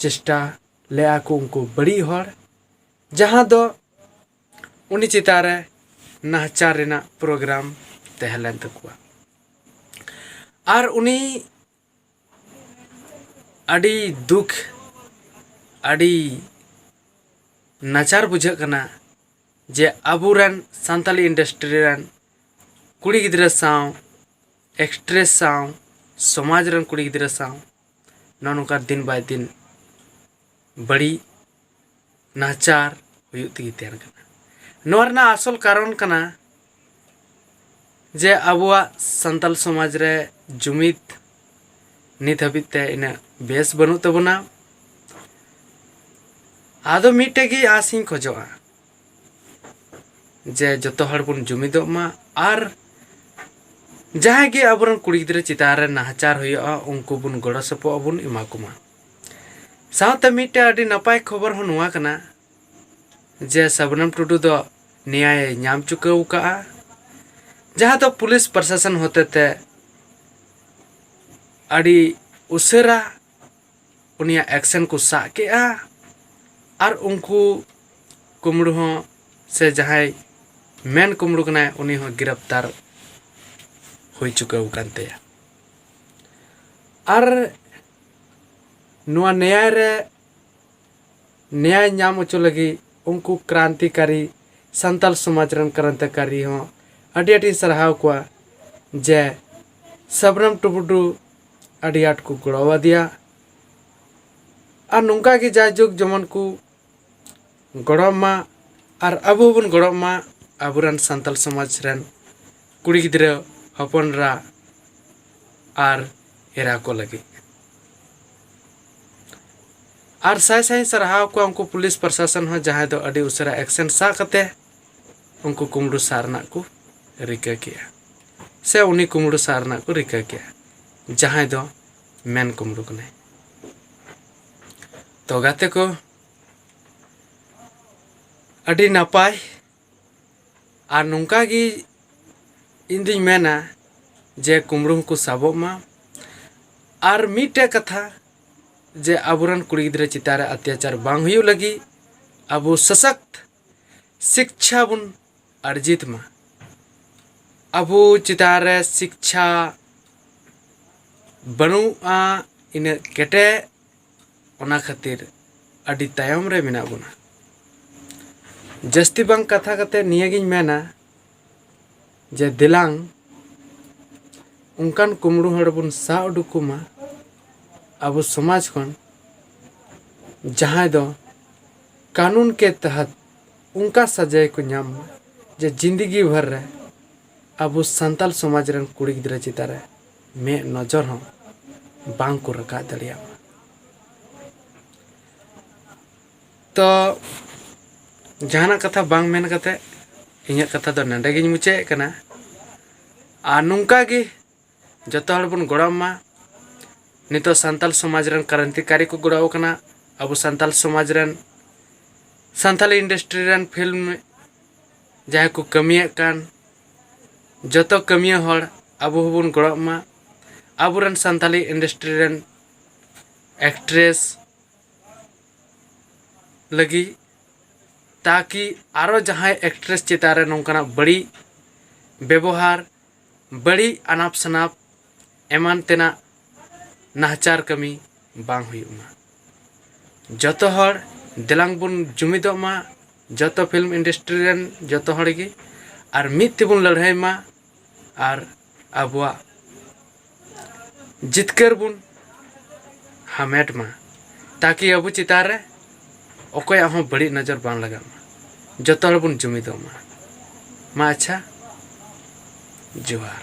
ᱪᱮᱥᱴᱟ ᱞᱮᱫᱼᱟ ᱠᱚ ᱩᱱᱠᱩ ᱵᱟᱹᱲᱤᱡ ᱦᱚᱲ ᱡᱟᱦᱟᱸ ᱫᱚ ᱩᱱᱤ ᱪᱮᱛᱟᱱ ᱨᱮ ᱱᱟᱦᱟᱪᱟᱨ ᱨᱮᱱᱟᱜ ᱯᱨᱳᱜᱨᱟᱢ ᱛᱟᱦᱮᱸ ᱞᱮᱱ ᱛᱟᱠᱚᱣᱟ ᱟᱨ ᱩᱱᱤ ᱟᱹᱰᱤ ᱫᱩᱠ ᱟᱹᱰᱤ ᱱᱟᱪᱟᱨ ᱵᱩᱡᱷᱟᱹᱜ ᱠᱟᱱᱟ ᱡᱮ ᱟᱵᱚ ᱨᱮᱱ ᱥᱟᱱᱛᱟᱞᱤ ᱤᱱᱰᱟᱥᱴᱨᱤ ᱨᱮᱱ ᱠᱩᱲᱤ ᱜᱤᱫᱽᱨᱟᱹ ᱥᱟᱶ ᱮᱠᱴᱨᱮᱥ ᱥᱟᱶ ᱥᱚᱢᱟᱡᱽ ᱨᱮᱱ ᱠᱩᱲᱤ ᱜᱤᱫᱽᱨᱟᱹ ᱥᱟᱶ ᱱᱚᱜᱼᱚ ᱱᱚᱝᱠᱟ ᱫᱤᱱ ᱵᱟᱭ ᱫᱤᱱ ᱵᱟᱹᱲᱤᱡ ᱱᱟᱦᱟᱪᱟᱨ ᱦᱩᱭᱩᱜ ᱛᱮᱜᱮ ᱛᱟᱦᱮᱱ ᱠᱟᱱᱟ ᱱᱚᱣᱟ ᱨᱮᱱᱟᱜ ᱟᱥᱚᱞ ᱠᱟᱨᱚᱱ ᱠᱟᱱᱟ ᱡᱮ ᱟᱵᱚᱣᱟᱜ ᱥᱟᱱᱛᱟᱞ ᱥᱚᱢᱟᱡᱽ ᱨᱮ ᱡᱩᱢᱤᱫ ᱱᱤᱛ ᱦᱟᱹᱵᱤᱡ ᱛᱮ ᱤᱱᱟᱹᱜ ᱵᱮᱥ ᱵᱟᱹᱱᱩᱜ ᱛᱟᱵᱚᱱᱟ ᱟᱫᱚ ᱢᱤᱫᱴᱮᱡ ᱜᱮ ᱟᱸᱥᱤᱧ ᱠᱷᱚᱡᱚᱜᱼᱟ ᱡᱮ ᱡᱚᱛᱚ ᱦᱚᱲ ᱵᱚᱱ ᱡᱩᱢᱤᱫᱚᱜ ᱢᱟ ᱟᱨ ᱡᱟᱦᱟᱸᱭ ᱜᱮ ᱟᱵᱚᱨᱮᱱ ᱠᱩᱲᱤ ᱜᱤᱫᱽᱨᱟᱹ ᱪᱮᱛᱟᱱ ᱨᱮ ᱱᱟᱦᱟᱪᱟᱨ ᱦᱩᱭᱩᱜᱼᱟ ᱩᱱᱠᱩ ᱵᱚᱱ ᱜᱚᱲᱚ ᱥᱚᱯᱚᱦᱚᱫ ᱵᱚᱱ ᱮᱢᱟ ᱠᱚᱢᱟ ᱥᱟᱶᱛᱮ ᱢᱤᱫᱴᱮᱱ ᱟᱹᱰᱤ ᱱᱟᱯᱟᱭ ᱠᱷᱚᱵᱚᱨ ᱦᱚᱸ ᱱᱚᱣᱟ ᱠᱟᱱᱟ ᱡᱮ ᱥᱟᱵᱱᱟᱢ ᱴᱩᱰᱩ ᱫᱚ ᱱᱮᱭᱟᱭᱮ ᱧᱟᱢ ᱪᱩᱠᱟᱹᱣ ᱠᱟᱜᱼᱟ ᱡᱟᱦᱟᱸ ᱫᱚ ᱯᱩᱞᱤᱥ ᱯᱨᱚᱥᱟᱥᱚᱱ ᱦᱚᱛᱮᱛᱮ ᱟᱹᱰᱤ ᱩᱥᱟᱹᱨᱟ ᱩᱱᱤᱭᱟᱜ ᱮᱠᱥᱮᱱ ᱠᱚ ᱥᱟᱵ ᱠᱮᱫᱼᱟ ᱟᱨ ᱩᱱᱠᱩ ᱠᱩᱢᱲᱩ ᱦᱚᱸ ᱥᱮ ᱡᱟᱦᱟᱸᱭ ᱢᱮᱱ ᱠᱩᱢᱲᱩ ᱠᱟᱱᱟᱭ ᱩᱱᱤ ᱦᱚᱸ ᱜᱨᱮᱯᱛᱟᱨ ᱦᱩᱭ ᱪᱩᱠᱟᱹᱣ ᱟᱠᱟᱱ ᱛᱟᱭᱟ ᱟᱨ ᱱᱚᱣᱟ ᱱᱮᱭᱟᱭ ᱨᱮ ᱱᱮᱭᱟᱭ ᱧᱟᱢ ᱦᱚᱪᱚ ᱞᱟᱹᱜᱤᱫ ᱩᱱᱠᱩ ᱠᱨᱟᱱᱛᱤᱠᱟᱨᱤ ᱥᱟᱱᱛᱟᱞ ᱥᱚᱢᱟᱡᱽ ᱨᱮᱱ ᱠᱨᱟᱱᱛᱤᱠᱟᱨᱤ ᱦᱚᱸ ᱟᱹᱰᱤ ᱟᱹᱰᱤᱧ ᱥᱟᱨᱦᱟᱣ ᱠᱚᱣᱟ ᱡᱮ ᱥᱟᱵᱨᱟᱢ ᱴᱩᱰᱩ ᱟᱹᱰᱤ ᱟᱸᱴ ᱠᱚ ᱜᱚᱲᱚ ᱟᱫᱮᱭᱟ ᱟᱨ ᱱᱚᱝᱠᱟ ᱜᱮ ᱡᱟᱭᱡᱩᱜᱽ ᱡᱮᱢᱚᱱ ᱠᱚ ᱜᱚᱲᱚ ᱟᱢᱟ ᱟᱨ ᱟᱵᱚ ᱦᱚᱸᱵᱚᱱ ᱜᱚᱲᱚ ᱟᱢᱟ ᱟᱵᱚ ᱨᱮᱱ ᱥᱟᱱᱛᱟᱲ ᱥᱚᱢᱟᱡᱽ ᱨᱮᱱ ᱠᱩᱲᱤ ᱜᱤᱫᱽᱨᱟᱹ ᱦᱚᱯᱚᱱ ᱮᱨᱟ ᱟᱨ ᱮᱨᱟ ᱠᱚ ᱞᱟᱹᱜᱤᱫ ᱟᱨ ᱥᱟᱭ ᱥᱟᱭ ᱤᱧ ᱥᱟᱨᱦᱟᱣ ᱠᱚᱣᱟ ᱩᱱᱠᱩ ᱯᱩᱞᱤᱥ ᱯᱨᱚᱥᱟᱥᱚᱱ ᱦᱚᱸ ᱡᱟᱦᱟᱸᱭ ᱫᱚ ᱟᱹᱰᱤ ᱩᱥᱟᱹᱨᱟ ᱮᱠᱥᱮᱱ ᱥᱟᱵ ᱠᱟᱛᱮᱫ ᱩᱱᱠᱩ ᱠᱩᱢᱲᱩ ᱥᱟᱵ ᱨᱮᱱᱟᱜ ᱠᱚ ᱨᱤᱠᱟᱹ ᱠᱮᱜᱼᱟ ᱥᱮ ᱩᱱᱤ ᱠᱩᱢᱲᱩ ᱥᱟᱵ ᱨᱮᱱᱟᱜ ᱠᱚ ᱨᱤᱠᱟᱹ ᱠᱮᱜᱼᱟ ᱡᱟᱦᱟᱸᱭ ᱫᱚ ᱢᱮᱱ ᱠᱩᱢᱲᱩ ᱠᱟᱱᱟᱭ ᱛᱚ ᱜᱟᱛᱮ ᱠᱚ ᱟᱹᱰᱤ ᱱᱟᱯᱟᱭ ᱟᱨ ᱱᱚᱝᱠᱟ ᱜᱮ ᱤᱧ ᱫᱩᱧ ᱢᱮᱱᱟ ᱡᱮ ᱠᱩᱢᱲᱩ ᱦᱚᱸᱠᱚ ᱥᱟᱵᱚᱜ ᱢᱟ ᱟᱨ ᱢᱤᱫᱴᱮᱡ ᱠᱟᱛᱷᱟ ᱡᱮ ᱟᱵᱚᱨᱮᱱ ᱠᱩᱲᱤ ᱜᱤᱫᱽᱨᱟᱹ ᱪᱮᱛᱟᱱ ᱨᱮ ᱚᱛᱛᱟᱪᱟᱨ ᱵᱟᱝ ᱦᱩᱭᱩᱜ ᱞᱟᱹᱜᱤᱫ ᱟᱵᱚ ᱥᱚᱥᱚᱠᱛ ᱥᱤᱠᱪᱷᱟ ᱵᱚᱱ ᱟᱨᱡᱤᱛ ᱢᱟ ᱟᱵᱚ ᱪᱮᱛᱟᱱ ᱨᱮ ᱥᱤᱠᱪᱷᱟ ᱵᱟᱹᱱᱩᱜᱼᱟ ᱤᱱᱟᱹᱜ ᱠᱮᱴᱮᱡ ᱚᱱᱟ ᱠᱷᱟᱹᱛᱤᱨ ᱟᱹᱰᱤ ᱛᱟᱭᱚᱢ ᱨᱮ ᱢᱮᱱᱟᱜ ᱵᱚᱱᱟ ᱡᱟᱹᱥᱛᱤ ᱵᱟᱝ ᱠᱟᱛᱷᱟ ᱠᱟᱛᱮᱫ ᱱᱤᱭᱟᱹᱜᱤᱧ ᱢᱮᱱᱟ ᱡᱮ ᱫᱮᱞᱟᱝ ᱚᱱᱠᱟᱱ ᱠᱩᱢᱲᱩ ᱦᱚᱲ ᱵᱚᱱ ᱥᱟᱵ ᱩᱰᱩᱠ ᱠᱚᱢᱟ ᱟᱵᱚ ᱥᱚᱢᱟᱡᱽ ᱠᱷᱚᱱ ᱡᱟᱦᱟᱸᱭ ᱫᱚ ᱠᱟᱱᱩᱱ ᱠᱮ ᱛᱟᱦᱟᱛ ᱚᱱᱠᱟ ᱥᱟᱡᱟᱭ ᱠᱚ ᱧᱟᱢ ᱢᱟ ᱡᱮ ᱡᱤᱱᱫᱮᱜᱤ ᱵᱷᱚᱨ ᱨᱮ ᱟᱵᱚ ᱥᱟᱱᱛᱟᱲ ᱥᱚᱢᱟᱡᱽ ᱨᱮᱱ ᱠᱩᱲᱤ ᱜᱤᱫᱽᱨᱟᱹ ᱪᱮᱛᱟᱱ ᱨᱮ ᱢᱮᱫ ᱱᱚᱡᱚᱨ ᱦᱚᱸ ᱵᱟᱝ ᱠᱚ ᱨᱟᱠᱟᱵ ᱫᱟᱲᱮᱭᱟᱜ ᱢᱟ ᱛᱚ ᱡᱟᱦᱟᱱᱟᱜ ᱠᱟᱛᱷᱟ ᱵᱟᱝ ᱢᱮᱱ ᱠᱟᱛᱮ ᱤᱧᱟᱹᱜ ᱠᱟᱛᱷᱟ ᱫᱚ ᱱᱚᱰᱮ ᱜᱤᱧ ᱢᱩᱪᱟᱹᱫ ᱮᱫ ᱠᱟᱱᱟ ᱟᱨ ᱱᱚᱝᱠᱟ ᱜᱮ ᱡᱚᱛᱚ ᱦᱚᱲ ᱵᱚᱱ ᱜᱚᱲᱚ ᱟᱢᱟ ᱱᱤᱛᱚᱜ ᱥᱟᱱᱛᱟᱞ ᱥᱚᱢᱟᱡᱽ ᱨᱮᱱ ᱠᱨᱟᱱᱛᱤᱠᱟᱨᱤ ᱠᱚ ᱜᱚᱲᱚ ᱟᱠᱟᱱᱟ ᱟᱵᱚ ᱥᱟᱱᱛᱟᱞ ᱥᱚᱢᱟᱡᱽ ᱨᱮᱱ ᱥᱟᱱᱛᱟᱞᱤ ᱤᱱᱰᱟᱥᱴᱨᱤ ᱨᱮᱱ ᱯᱷᱤᱞᱢ ᱡᱟᱦᱟᱸᱭ ᱠᱚ ᱠᱟᱹᱢᱤᱭᱮᱫ ᱠᱟᱱ ᱡᱚᱛᱚ ᱠᱟᱹᱢᱤᱭᱟᱹ ᱦᱚᱲ ᱟᱵᱚ ᱦᱚᱸᱵᱚᱱ ᱜᱚᱲᱚ ᱟᱢᱟ ᱟᱵᱚ ᱨᱮᱱ ᱥᱟᱱᱛᱟᱞᱤ ᱤᱱᱰᱟᱥᱴᱨᱤ ᱨᱮᱱ ᱮᱠᱴᱨᱮᱥ ᱞᱟᱹᱜᱤᱫ ᱛᱟᱠᱤ ᱟᱨᱚ ᱡᱟᱦᱟᱸᱭ ᱮᱠᱴᱨᱮᱥ ᱪᱮᱛᱟᱱ ᱨᱮ ᱱᱚᱝᱠᱟᱱᱟᱜ ᱵᱟᱹᱲᱤᱡ ᱵᱮᱵᱚᱦᱟᱨ ᱵᱟᱹᱲᱤᱡ ᱟᱱᱟᱯ ᱥᱟᱱᱟᱯ ᱮᱢᱟᱱ ᱛᱮᱱᱟᱜ ᱱᱟᱦᱟᱪᱟᱨ ᱠᱟᱹᱢᱤ ᱵᱟᱝ ᱦᱩᱭᱩᱜ ᱢᱟ ᱡᱚᱛᱚ ᱦᱚᱲ ᱫᱮᱞᱟᱝ ᱵᱚᱱ ᱡᱩᱢᱤᱫᱚᱜ ᱢᱟ ᱡᱚᱛᱚ ᱯᱷᱤᱞᱢ ᱤᱱᱰᱟᱥᱴᱨᱤ ᱨᱮᱱ ᱡᱚᱛᱚ ᱦᱚᱲ ᱜᱮ ᱟᱨ ᱢᱤᱫ ᱛᱮᱵᱚᱱ ᱞᱟᱹᱲᱦᱟᱹᱭ ᱢᱟ ᱟᱨ ᱟᱵᱚᱣᱟᱜ ᱡᱤᱛᱠᱟᱹᱨ ᱵᱚᱱ ᱦᱟᱢᱮᱴ ᱢᱟ ᱛᱟᱠᱤ ᱟᱵᱚ ᱪᱮᱛᱟᱱ ᱨᱮ ᱚᱠᱚᱭᱟᱜ ᱦᱚᱸ ᱵᱟᱹᱲᱤᱡ ᱱᱚᱡᱚᱨ ᱵᱟᱝ ᱞᱟᱜᱟᱜ ᱢᱟ ᱡᱚᱛᱚ ᱦᱚᱲ ᱵᱚᱱ ᱡᱩᱢᱤᱫᱚᱜ ᱢᱟ ᱢᱟ ᱟᱪᱪᱷᱟ ᱡᱚᱦᱟᱨ